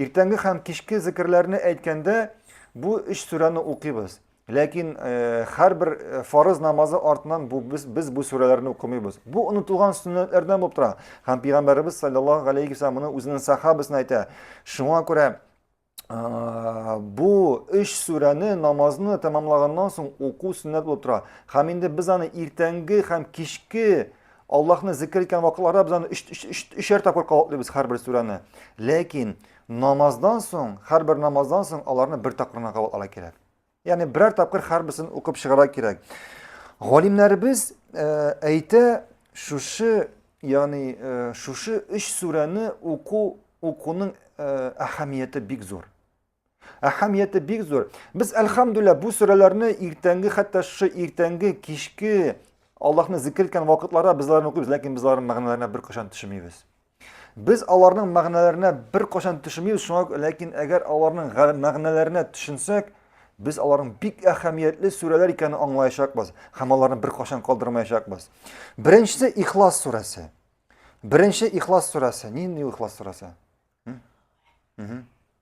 Иртәнге һәм кичке зикерләрне әйткәндә, бу өч сүрәне укыйбыз. Ләкин һәрбер фарыз намазы артыннан бу без без бу сүрәләрне укымыйбыз. Бу онытылган сөннәтләрдән булып тора. Һәм пәйгамбәребез саллаллаһу алейхи ва моны үзенең сахабасына әйтә. Шуңа күрә бу өч сүрәне намазны тәмамлаганнан соң уку сөннәт булып тора. Һәм инде без аны иртәнге һәм кичке Аллаһны зикер иткән вакытларда без аны өчәр тапкыр кабатлыйбыз һәрбер сүрәне. Ләкин намаздан соң, һәрбер намаздан соң аларны бер тапкырына кабатларга кирәк. Ягъни берәр тапкыр һәрберсен укып чыгарга кирәк. Галимнәребез э, әйтә, шушы, ягъни э, шушы өч сүрәне уку укуның э, әһәмияте бик зур. Әһәмияте бик зур. Без әлхәмдүлилла бу сүрәләрне иртәнге хәтта шушы иртәнге кичке Аллаһны зикер иткән вакытларда без аларны укыйбыз, ләкин без аларның мәгънәләренә бер кашан төшмибез. Без аларның мәгънәләренә бер кашан төшмибез, шуңа ләкин әгәр аларның мәгънәләренә төшенсәк, без аларның бик әһәмиятле сүрәләр икәнен аңлаячакбыз һәм аларны бер кашан калдырмаячакбыз. Беренчесе Ихлас сүрәсе. Беренче Ихлас сүрәсе. Нинди Ихлас сүрәсе?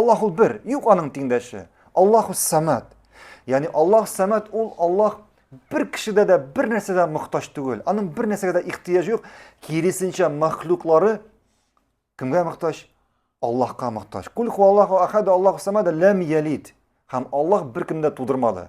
Аллаһ ул бер, юк аның тиңдәше. Аллаһ ул самат. Яни Аллаһ самат ул Аллаһ бер кешедә дә бер нәрсәдә мохтаҗ түгел. Аның бер нәрсәгә дә ихтияҗ юк. Киресенчә махлуклары кемгә мохтаҗ? Аллаһка мохтаҗ. Кул ху Аллаһу ахад, Аллаһу самат, лам ялид. Хам Аллаһ бер кемдә тудырмады.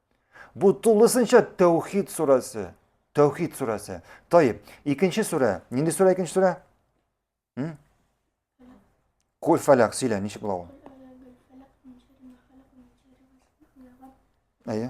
Бу тулысынча Тәүхид сурәсе. Тәүхид сурәсе. Тайып, икенче сүрә. Нинди сүрә икенче сүрә? Кул фәләк, сөйлә, ничек була ул? Әйе.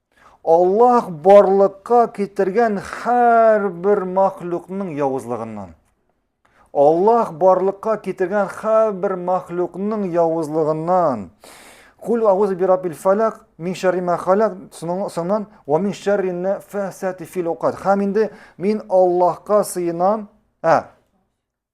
Аллаһ барлыкка китергән һәрбер мәхлукның явызлыгыннан. Аллаһ барлыкка китергән һәрбер мәхлукның явызлыгыннан. Кул ауз бирабил фалак, мин шәрри мә халак, соңнан ва мин шәрри нәфәсәти фил уқад. Хәм инде мин Аллаһка сыенам, ә,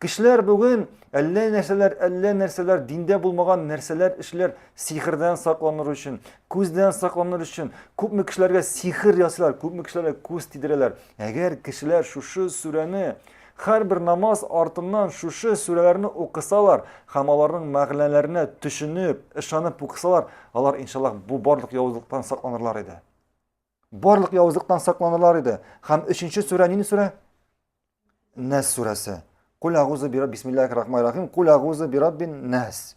Кешеләр бүген әллә нәрсәләр, әллә нәрсәләр, диндә булмаган нәрсәләр эшләр, сихердән сакланыр өчен, күздән сакланыр өчен. Күпме кешеләргә сихер ясыйлар, күпме кешеләргә күз тидерәләр. Әгәр кешеләр шушы сүрәне һәрбер намаз артыннан шушы сүрәләрне укысалар һәм аларның мәгънәләренә төшенеп, ышанып укысалар, алар иншаллаһ бу барлык явызлыктан сакланырлар иде. Барлык явызлыктан сакланылар иде. Хәм өченче сүрә нинди сүрә? Нәс сүрәсе. Кул агузы бираб бисмиллахир рахманир рахим. Кул агузы бираб бин нәс.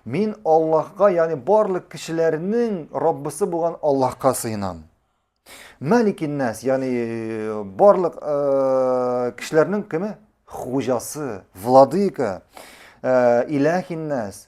Мин Аллаһка, ягъни барлык кешеләрнең Раббысы булган Аллаһка сыенам. Мәликин нәс, ягъни барлык э, кешеләрнең кеме? Хуҗасы, владыка. Э, Иләхин нәс,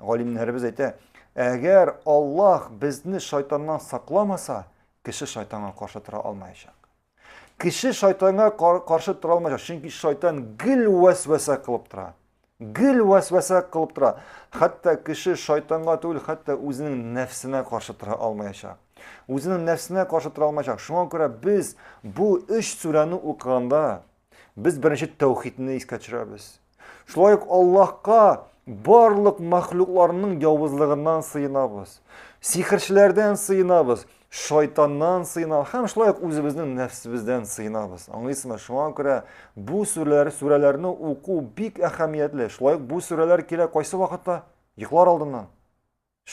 Галимнәребез әйтә, әгәр Аллаһ безне шайтаннан сакламаса, кеше шайтанга каршы тора алмаячак. Кеше шайтанга каршы тора алмаячак, чөнки шайтан гел вәсвәсә кылып тора. Гел вәсвәсә кылып тора. Хәтта кеше шайтанга түгел, хәтта үзенең нәфсенә каршы тора алмаячак. Үзенең нәфсенә каршы тора алмаячак. Шуңа күрә без бу өч сүрәне укыганда, без беренче тәүхидне искә төшерәбез. Шулай ук Аллаһка барлык мәхлукларның явызлыгыннан сыенабыз. Сихерчеләрдән сыенабыз, шайтаннан сыенабыз һәм шулай ук үзебезнең нәфсебездән сыенабыз. Аңлыйсызмы? Шуңа күрә бу сүрәләр, сүрәләрне уку бик әһәмиятле. Шулай ук бу сүрәләр килә кайсы вакытта? Йоклар алдыннан.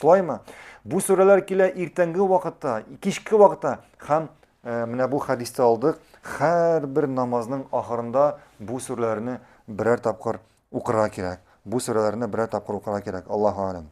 Шулаймы? Бу сүрәләр килә иртәнге вакытта, кичке вакытта һәм э, менә бу хәдисте алдык. Һәрбер намазның ахырында бу сүрәләрне берәр тапкыр укырга кирәк. Бу сүрәләрне берәр тапкыр укырга кирәк. Аллаһу алем.